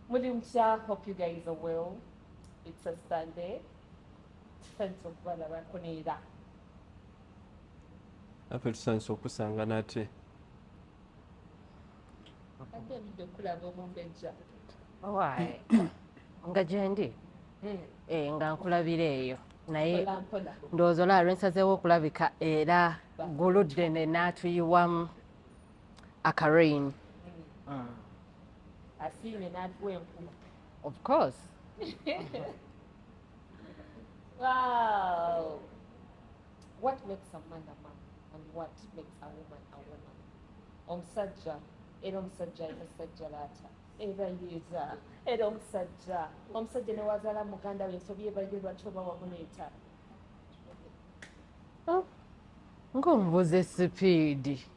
Muri mutya hope you guys are well it's a Sunday thanks okubala bakunira afe tusanise okusanga nate ate ebidde okulaba omumbejja owaaye nga gyendi hmm. eh, nga nkulabira eyo naye ndowooza olaba lwensazeewo okulabika era guludde ne naatuyiwamu aka rain mm. asiime n'atuwa enkuma of course wow what makes a man a man and what makes a woman a woman omusajja era omusajja omusajja laata era yeeza era omusajja omusajja newazaala muganda we ensobi ebayo lwaki oba wamuleeta oh. ng'omubuze sipiidi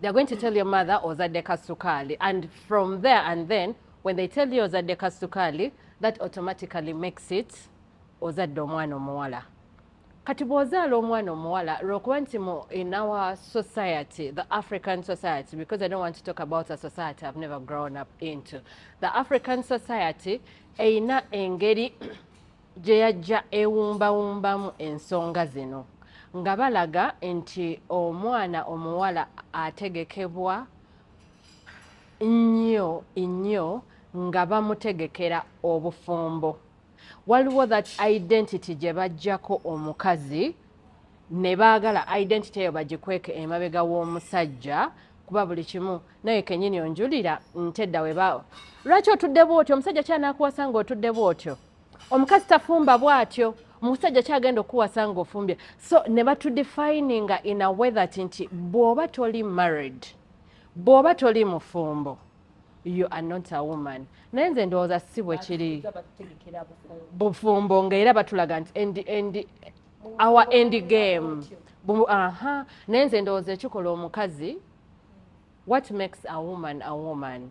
they're going to tell your mother ozadde kasukali and from there and then when they tell you ozadde kasukali that automatically makes it ozadde omwana omuwala kati bw'ozaala omwana omuwala lwokuba nti mu in our society the african society because i don't want to talk about a society i've never grown up into the african society eyina engeri gye yajja ewumbawumbamu ensonga zino nga balaga nti omwana omuwala ategekebwa nnyo nnyo nga bamutegekera obufumbo waliwo that identity gye bajjako omukazi ne baagala identity eyo bagikweke emabega w'omusajja kuba buli kimu naye kenyini onjulira ntedda weba lwaki otudde bwotyo omusajja kyanakuwasa nga otudde bwotyo omukazi tafumba bwatyo omusajja kyagenda okuwasa nga ofumbye so ne batudefininga in a way that nti bw'oba toli married bw'oba toli mufumbo you are not a woman naye nze ndowooza si bwe kiri bufumbo nga era batulaga nti endi endi our end game aha naye nze ndowooza ekikola omukazi what makes a woman a woman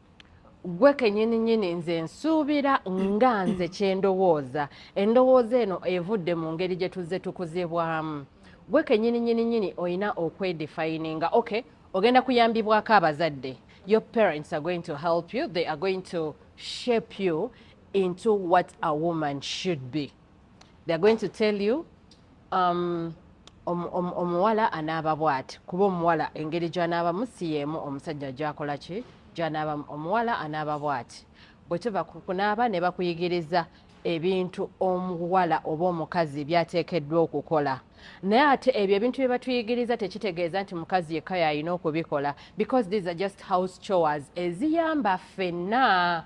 gwe kenyini nyini nze nsuubira nga nze kyendowooza endowooza eno evudde mu ngeri gye tuzze tukuzibwamu gwe kenyini nyini nyini olina okwedifininga ok ogenda kuyambibwako abazadde your parents are going to help you they are going to shape you into what a woman should be they are going to tell you um, omuwala anaaba bwati kuba omuwala engeri gyanaabamu si yeemu omusajja gyakola ki gyanaabamu omuwala anaaba bwati bwe tuva kunaaba ne bakuyigiriza ebintu omuwala oba omukazi byateekeddwa okukola naye ate ebyo ebintu bye batuyigiriza tekitegeeza nti mukazi yekka yalina okubikola because these are just house chores eziyamba ffenna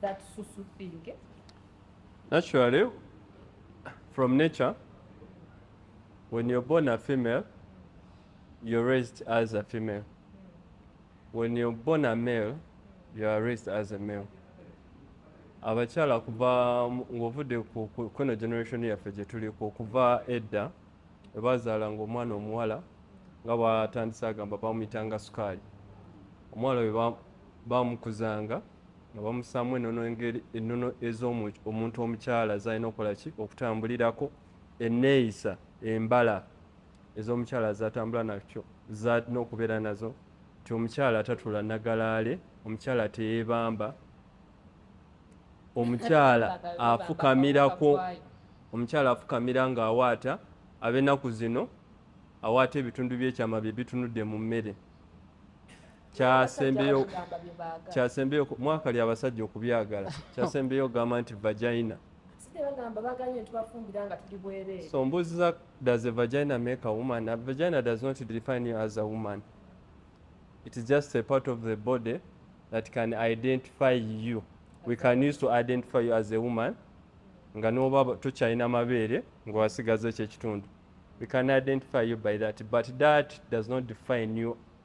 that susu thing. Eh? Naturally, from nature, when you're born a female, you're raised as a female. When you're born a male, you are raised as a male. abakyala kuva ng'ovudde kuno generation yaffe gye tuliko okuva edda webazaala ngaomwana omuwala nga bwatandise agamba bamumitanga sukaali omwala Baamukuzanga nga bamussaamu ennono engeri ennono ez'omuntu omukyala z'alina okukola ki okutambulirako, enneeyisa, embala ez'omukyala z'atambula nakyo z'alina okubeera nazo nti omukyala tatula nagalaale, omukyala teyeebamba, omukyala afukamirako, omukyala afukamira ng'awaata ab'ennaku zino awaata ebitundu by'ekyama bye bitunudde mu mmere. kyasembeyo mwaka lya abasajja okubyagala kyasembeyo ogamba nti vagina so mbuzi za does a vagina make a woman a vagina does not define you as a woman it is just a part of the body that can identify you we can use to identify you as a woman nga noba tokyalina mabeere nga wasigaza ekyo ekitundu we can identify you by that but that does not define you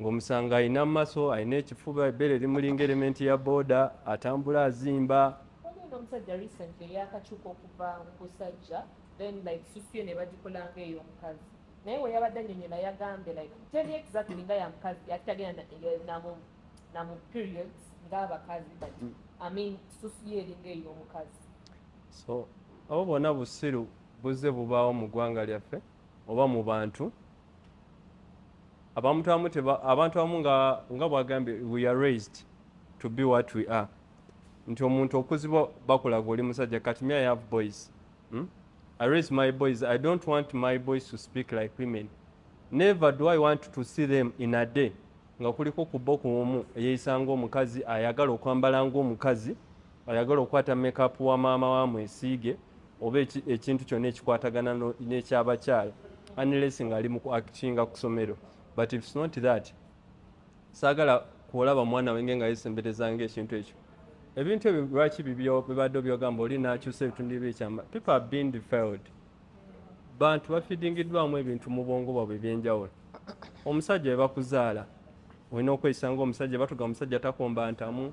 ng'omusanga alina mu maso alina ekifuba ebbeere limulinga elementi ya booda atambula azimba omusajja recent eyakakyuka okuva kusajja then like susuye nebagikolanga eyo omukazi naye weyabadde anyonyola yagambye like teri exactly nga yamukazi ati tagenda namu namu periods ngaabakazi but mm. i mean susuye eringa eyo omukazi so abo bona busiru buzze bubaawo mu ggwanga lyaffe oba mu bantu abantu abamu teba abantu abamu nga nga bwagambye we are raised to be what we are nti omuntu okuzibwa bakulaga oli musajja kati me i have boys hmm? i raise my boys i don't want my boys to speak like women never do i want to see them in a day nga kuliko kubba okuomu eyeyisanga omukazi ayagala okwambala ngaomukazi ayagala okukwata makeup wa maama wa mwesiige oba ekintu kyonna ekikwatagana n'ekyabakyala unless nga ali mu kuactinga ku somero but if not that saagala kuolaba mwana wenge nga yesemberezanga ekintu ekyo ebintu ebyo lwaki bibadde obyogamba oli nakyusa ebitundu ebyekyama people have been defiled bantu bafidingiddwamu ebintu mu bwongo bwabwe ebyenjawulo omusajja webakuzaala olina okweyisa nga omusajja batuga omusajja takomba ntamu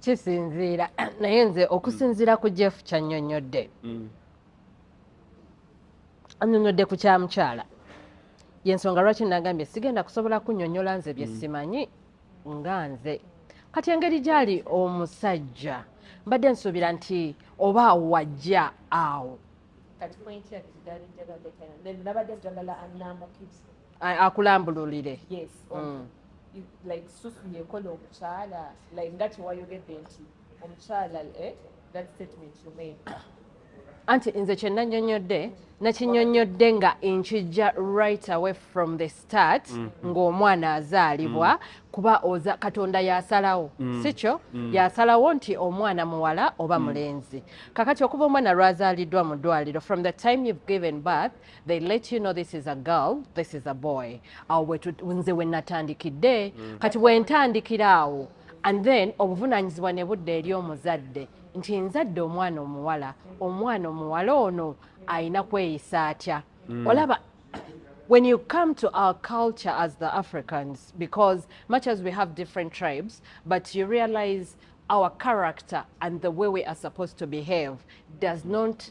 kisinziira naye nze okusinziira ku jeff kyanyonyodde mm. anyonyodde ku kyamukyala yensonga lwaki nagambye sigenda kusobola kunyonyola nze byesimanyi mm. nga nze kati engeri gyali omusajja mbadde nsuubira nti oba wajja awo akulambululire mm. like susu yekola omukyala like nga kyewayogedde nti omukyala eh, that statement you made anti nze kyenanyonyodde nakinyonyodde nga nkijja right away from the start mm -hmm. ng'omwana azaalibwa mm -hmm. kuba oza katonda yasalawo mm. sikyo mm. yasalawo nti omwana muwala oba mm. mulenzi kakati okuva omwana lwazaliddwa mu ddwaliro from the time you've given birth they let you know this is a girl this is a boy awo nze we natandikidde mm. kati bwe ntandikira awo and then obuvunaanyizibwa ne budda eri omuzadde nti nzadde omwana omuwala omwana omuwala ono alina kweyisa atya mm. olaba when you come to our culture as the africans because much as we have different tribes but you realize our character and the way we are supposed to behave does not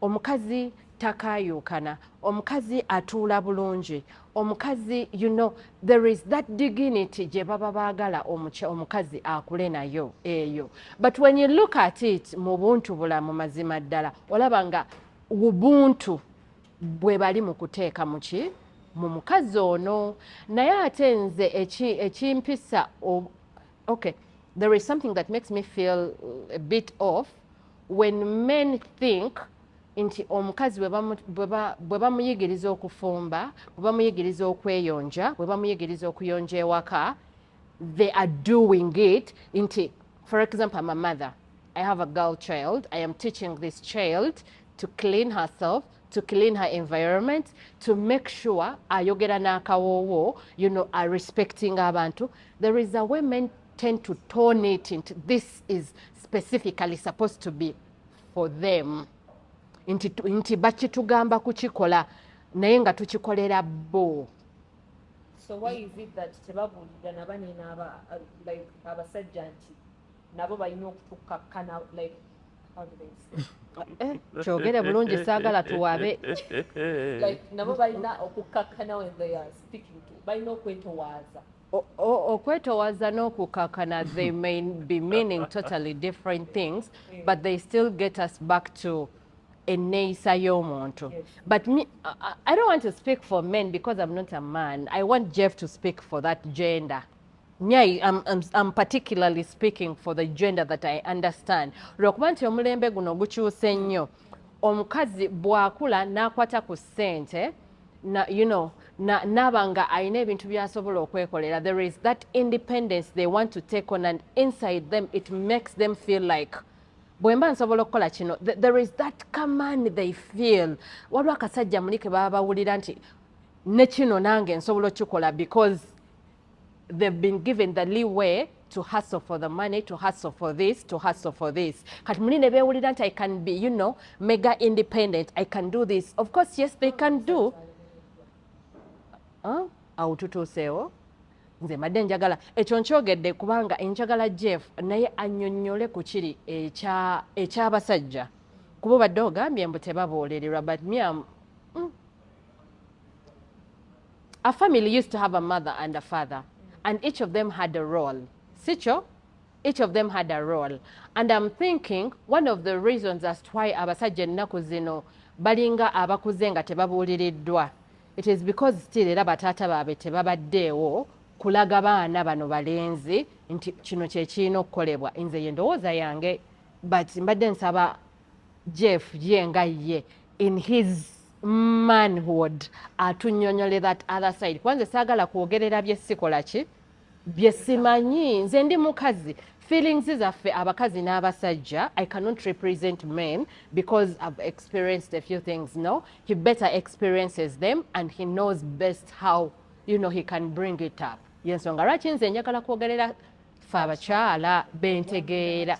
omukazi takayuukana omukazi atuula bulungi omukazi you know there is that dignity gye baba baagala omukazi akule nayo eyo but when you look at it mu buntu bulamu mazima ddala olaba nga ubuntu bwe bali mu kuteeka mu ki mu mukazi ono naye ate nze ekimpisa okay there is something that makes me feel a bit off when men think nti omukazi bwe bamuyigiriza okufumba bwe bamuyigiriza okweyonja bwe bamuyigiriza okuyonja ewaka they are doing it nti for example am a mother i have a girl child i am teaching this child to clean herself to clean her environment to make sure ayogera n'akawoowo you know are respecting abantu there is a way men tend to turn it into this is specifically supposed to be for them nti, nti bakitugamba kukikola naye nga tukikolera bo so why is it that tebabuulira nabanene uh, like abasajja nti nabo balina okutukakkana like eh, kyogere bulungi saagala tuwabe nabo balina okukkakkana balina okwetowaaza okwetowaza n'okukakana they may be meaning totally different things but they still get us back to enneeyisa y'omuntu but me, I, i don't want to speak for men because i'm not a man i want jeff to speak for that gender nyai I'm, I'm, I'm particularly speaking for the gender that i understand lwakuba nti omulembe guno gukyuse nnyo omukazi bw'akula n'akwata ku ssente na, you know, na, naba nga alina ebintu byasobola okwekolera there is that independence they want to take on and inside them it makes them feel like bwemba nsobola okukola kino there is that command they feel waliwo akasajja muli ke baba bawulira nti nekino nange nsobola okukikola because they've been given the leeway to hustle for the money to hustle for this to hustle for this kati muli ne beewulira nti i can be you know mega independent i can do this of course yes they can do huh? awo tutuuseewo nze mbadde njagala ekyo nkyogedde kubanga enjagala jeff naye annyonnyole ku kiri eky'abasajja kuba obadde ogambye mbu tebaboolererwa but miam a family used to have a mother and a father and each of them had a role sikyo each of them had a role and i'm thinking one of the reasons as to why abasajja ennaku zino balinga abakuze nga tebabuuliriddwa it is because still era bataata baabwe tebabaddeewo kulaga baana bano balenzi nti kino kyekirina okukolebwa nze ye ndowooza yange but mbadde nsaba jeff ye nga ye in his manhood atunyonyole that other side kuba nze saagala kwogerera bye sikola ki bye simanyi nze ndi mukazi feelings zaffe abakazi n'abasajja i cannot represent men because i've experienced a few things no he better experiences them and he knows best how you know he can bring it up yensonga lwaki nze njagala kwogerera fe abakyala bentegeera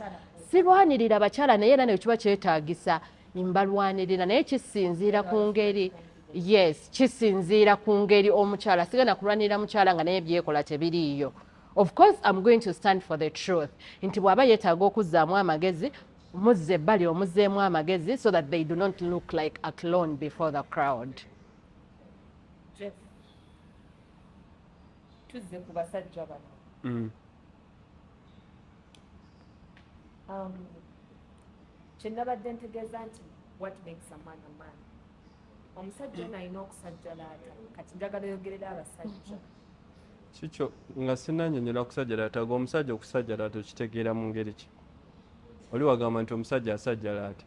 sirwanirira abakyala naye era nekiba kyetagisa mbalwanirira naye kisinziira ku ngeri yes kisinziira ku ngeri omukyala sigenda kulwanirira mukyala nga naye byekola tebiriiyo of course am going to stand for the truth nti bwaba yetaaga okuzzaamu amagezi muzze ebbali omuzeemu amagezi so that they do not look like a clone before the crowd tuzze ku basajja bano mm. um, kyenabadde ntegeeza nti what makes a man a man omusajja ono alina okusajjalaata kati njagala oyogerera abasajja kikyo nga sinanyonyola kusajjalaata ga omusajja okusajjalaata okitegeera mu ngeri ki oli wagamba nti omusajja asajjalaata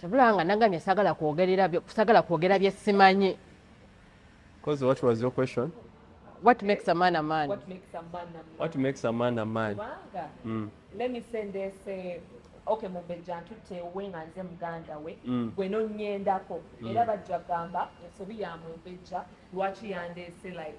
kyabula nga nagambye sagala kwogerera sagala kwogera bye simanyi because what was your question what makes a man a man what makes a man a man, what makes a man, a man? Mm. let me send this uh, okay mubejja ntutte we nga nze muganda we mm. gwe nonyendako mm. era bajja gamba ensobi ya mubejja lwaki yandeese like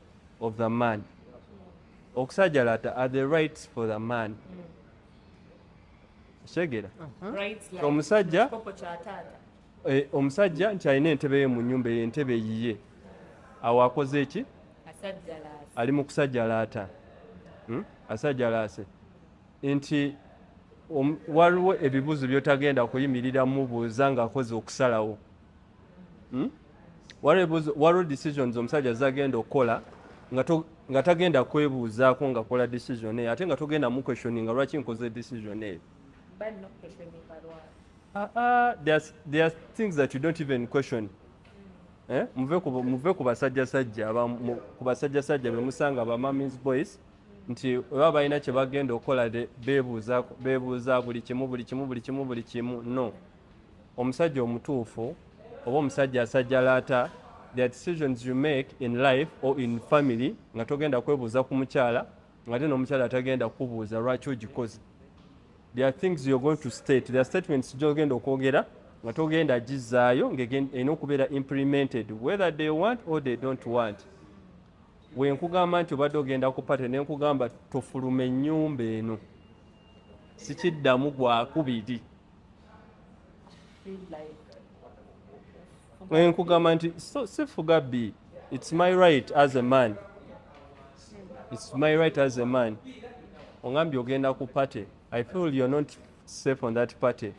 of the man okusajalata are the rights for the man kyegera uh-huh. omusajja eh, omusajja nti alina entebe ye mu nyumba eyo entebe yiye awo akoze eki ali mu kusajalaata hmm? asajalaase nti waliwo ebibuzo byotagenda kuyimirira mubuuza ngaakoze okusalawo hmm? waliwo decisions omusajja zagenda okukola nga tagenda kwebuuzaako ngakola decision eyo ate nga togenda mu question nga lwaki nkoze decision eyo Uh, uh, there's, there's things that you don't even question eh? muve ku basajjasajja ku basajjasajja be musanga ba mamis boys nti oba balina kye bagenda okukola bebuuza buli kimu buli kimu buli kimu buli kimu no Omusajja omutuufu oba omusajja asajjalaata their decisions you make in life or in family nga togenda kwebuuza ku mukyala ngate n'omukyala atagenda kukubuuza lwaki ogikoze there are things you're going to state there are statements gyogenda okwogera nga togenda gizaayo ng'erina okubeera implemented whether they want or they don't want wenkugamba nti obadde ogenda ku pate nenkugamba tofuluma ennyumba eno sikiddamu gwakubiri nkugamba nti sifuga bi its my right as a man its my right as a man ongambye ogenda ku party i feel you're not safe on that party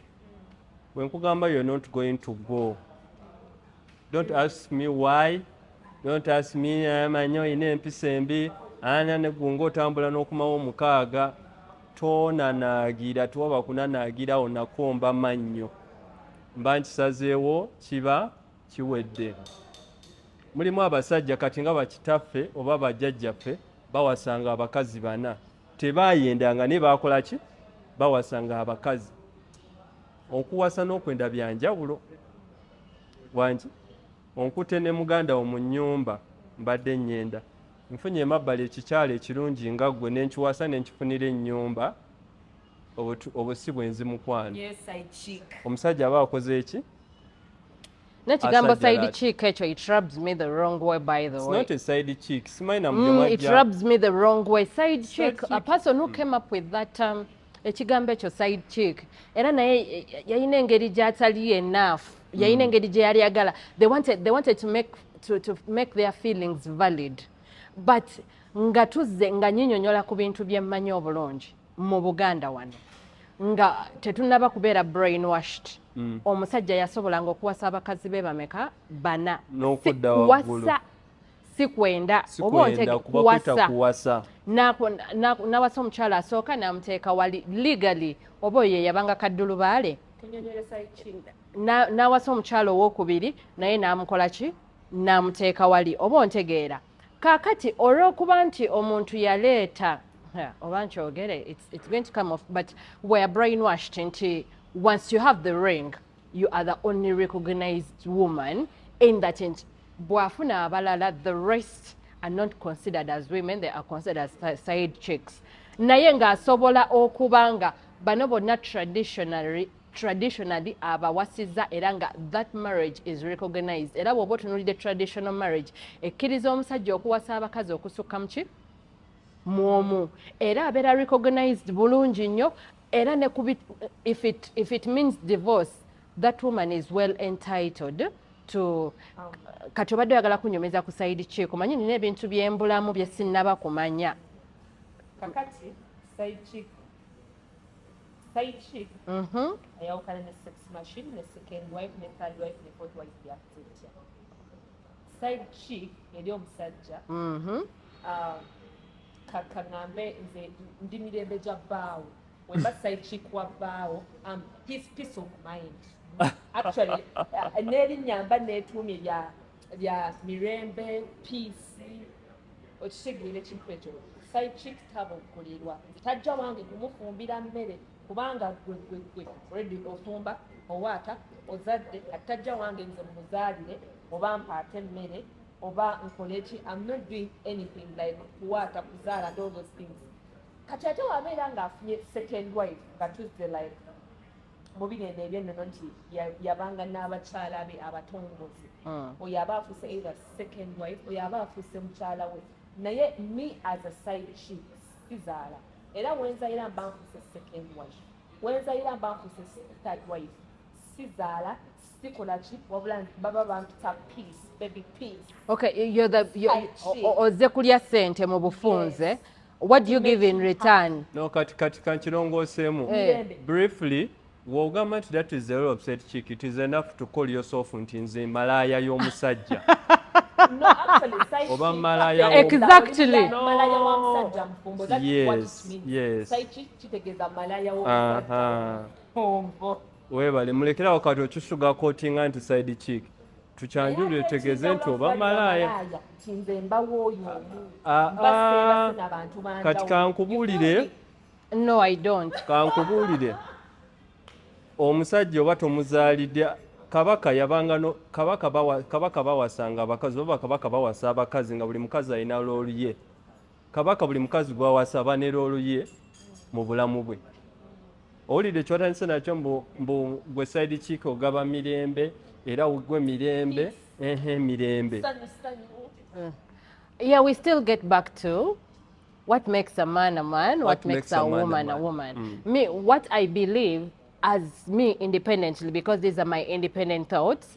bwe nkugamba you're not going to go don't ask me why don't ask me amanyi olina empisa embi ana negunga otambula n'okumawo omukaaga tonanaagira tewaba kunanaagirawo nakomba mannyo mba nkisazeewo kiba kiwedde mulimu abasajja kati nga bakitaffe oba bajjajjaffe bawasanga abakazi bana tebayendanga naye bakola ki bawasanga abakazi okuwasa n'okwenda byanjawulo wangi Onkute ne muganda wo mu nyumba mbadde nyenda nfunye emabbali ekikyala ekirungi nga ggwe nenkiwasa nenkifunira enyumba obwo si bwenzi mukwano omusajja aba akoze eki nekigambo side chick ekyo it rubs me the wrong way by the way it's not a side chick simanyi namujamajja mm, it rubs me the wrong way side chick a person who came up with that um, ekigambo ekyo side chick era naye eh, eh, yalina engeri gyatali enough yalina mm. engeri gyeyali agala they wanted, they wanted to, make, to, to make their feelings valid but nga tuzze nga nyinyonyola ku bintu byemmanyi obulungi mu buganda wano nga tetunaba kubeera brainwashed mm. omusajja yasobolanga okuwasa abakazi be bameka bana nokuwasa sikwenda oba ontege kuwasa nawasa omukyala asooka namuteeka wali legally oba oyo yeyabanga kaddulubaale nawasa omukyala owokubiri naye namukola ki namuteeka wali oba ontegeera kakati olwokuba nti omuntu yaleeta oba nkyogere it's going to come off but weare brain washed nti once you have the ring you are the only recognized woman in that change bwafuna abalala the rest are not considered as women they are considered as side chicks naye ng'asobola okuba nga bano bonna traditionally traditionally abawasiza era nga that marriage is recognized era bwoba otunulidde traditional marriage ekkiriza omusajja okuwasa abakazi okusukka muki mwomu era abeera recognized bulungi nnyo era ne kubi if it, if it means divorce that woman is well entitled to kati obadde oyagala kunyomeza ku saidi kiiko manyi nina ebintu byembulamu byesinaba kumanya kakati saidi kiiko side chick mm-hmm. ayawukana ne sex machine ne second wife ne third wife ne fourth wife yakutetya side chick eri omusajja mm-hmm. um, kakangambe nze ndi mirembe gya bbaawo wemba side chick wa bbaawo am peace peace of mind actually uh, n'erinnya mba neetuumye lya lya mirembe peace okitegeera ekintu ekyo side chick taba okukolirwa tajja wange kumufumbira mmere kubanga gwe gwe gwe already ofumba owaata ozadde attajja wange nze mumuzaalire oba mpaate emmere oba nkoleki am not doing anything like kuwaata kuzaala and all those things kati ate wabeera ngaafunye second wife nga tuzze like mubigendo ebyennono nti yabanga n'abakyala be abatongozi hmm. oyo aba afuuse either second wife oyo aba afuuse mukyala we naye me as a side chief sizaala era wenzayira mba nfuuse second wife wenzayira mba nfuuse third wife sizaala sikolaki wabula baba bampita peace baby peace okay you're the you're, oze kulya sente mu bufunze yes. what do you give in return no kati kati kankirongooseemu hey. Eh. briefly wogamba nti that is zero upset chick it is enough to call yourself nti nze malaaya y'omusajja oba malaaya Webale mulekere awo kati okisuga kotinga nti side chick tukyanjulire tegeze nti oba malaaya ah, ah, ah. kati kankubuulire no i don't kankubuulire omusajja oba tomuzaalidde kabaka yabanga no kabaka bawa kabaka bawasanga abakazi oba kabaka bawasa abakazi nga buli mukazi alina loolu ye Kabaka buli mukazi gwawasa aba ne loolu ye mu bulamu bwe. Owulidde kyewatandise nakyo mbu gwe side chick ogaba mirembe era gwe mirembe ehe mirembe. Mm. Yeah, we still get back to what makes a man a man, what, what makes, makes a, a woman a, a woman. Mm. Me, what I believe as me independently, because these are my independent thoughts,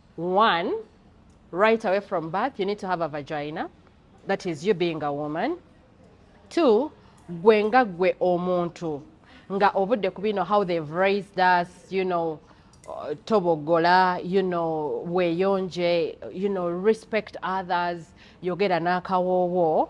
one right away from birth you need to have a vagina that is you being a woman two gwe nga gwe omuntu nga obudde ku bino how they've raised us you know uh, tobogola you know weyonje you know respect others yogera n'akawoowo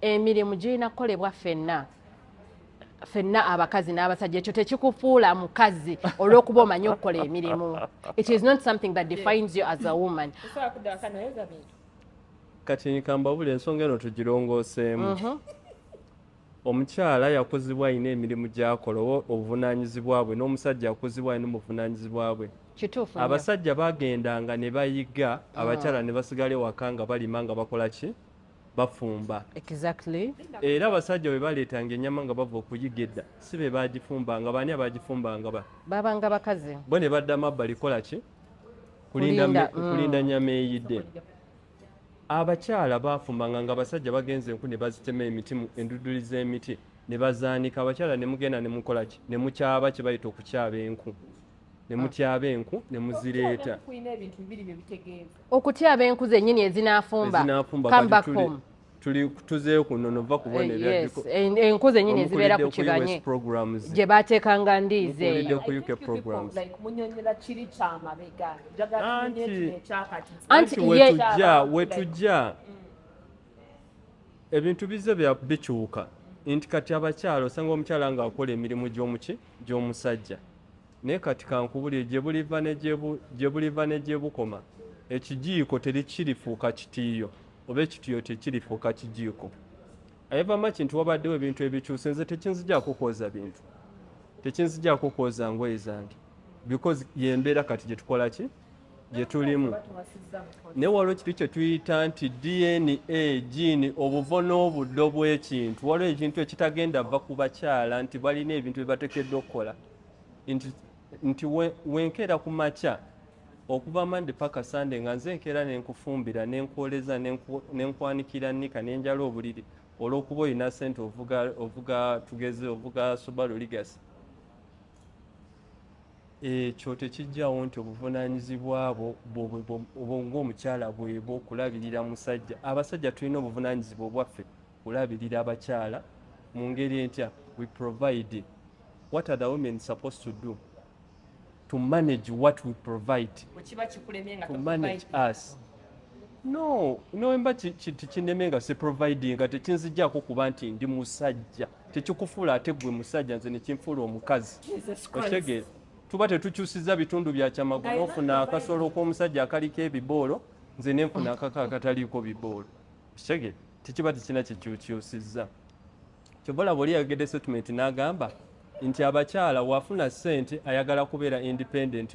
emirimu girina kukolebwa ffenna fenna abakazi n'abasajja ekyo tekikufuula mukazi olw'okuba omanyi okukola emirimu it is not something that defines you as a woman kati nkambabula ensonga eno tugirongooseemu mhm. omukyala yakuzibwa alina emirimu gyakola oba obuvunaanyizibwa bwe n'omusajja yakuzibwa alina obuvunaanyizibwa bwe kituufu abasajja bagendanga ne bayiga abakyala ah. ne basigala ewaka nga balima nga bakola ki bafumba exactly. era abasajja bwe baleetanga ennyama nga bava okuyiga edda si be baagifumbanga baani abaagifumbanga ba babanga bakazi bo ne badda mabbali kola ki kulinda Kulinda, me- mm. kulinda nnyama eyidde abakyala baafumbanga nga abasajja bagenze enku ne bazitema emiti mu- enduduli z'emiti ne bazaanika abakyala ne mugenda ne mukola ki ne mukyaba kye bayita okukyaba enku ne mutyaba enku ne muzireeta Kulina ebintu bibiri bye bitegeeza. okutya abenku zenyini ezinafumba come back home tuli tuzeeyo ku nnono va kubona eh, enku zenyini ezibeera ku kibanye gye bateekanga ndiizi anti wetujja mm. ebintu bize bikyuka nti kati abakyala osanga omukyala ng'akola emirimu gy'omuki gy'omusajja Naye kati kankubulire gye buliva ne gye bu, gye buliva ne gye bukoma, ekijiiko terikirifuuka kitiiyo, oba ekitiiyo tekirifuuka kijiiko. I ever much nti wabaddewo ebintu ebikyuse, nze tekinzijaako kwoza bintu, tekinzijaako kwoza ngoye zange, because yembeera kati gye tukola ki gye tulimu. Naye waliwo ekintu kye tuyita nti DNA, jiini, obuvo n'obuddo bw'ekintu. Waliwo ekintu ekitagenda va ku bakyala nti balina ebintu bye batekeddwa okukola. nti wenkeera ku makya okuva mande paka sande nga nze enkeera nenkufumbira nenkwoleza nenkwanikira nika nenjala obuliri olwokuba olina sente ovuga tugeze ovuga subaru ligasi ekyo tekijjawo nti obuvunanyizibwa bwo obwo ngaomukyala bwebwo okulabirira musajja abasajja tulina obuvunanyizibwa obwaffe kulabirira abakyala mungeri entya we provide what are the women supposed to do to manage what we provide to manage us no nowemba tikineme nga siproviding nga tekinzijako kuba nti ndi musajja tekikufuula ate gwe musajja nze nekinfuula omukazi okitegere tuba tetukyusiza bitundu byakyamagwa nofuna akasolo k'omusajja akaliko ebiboolo nze nenfuna akako akataliiko biboolo Shege tekiba tekirina kyekyukyusizza kyova olaba oli yayogedde statement n'agamba nti abakyala wafuna ssente ayagala kubeera independent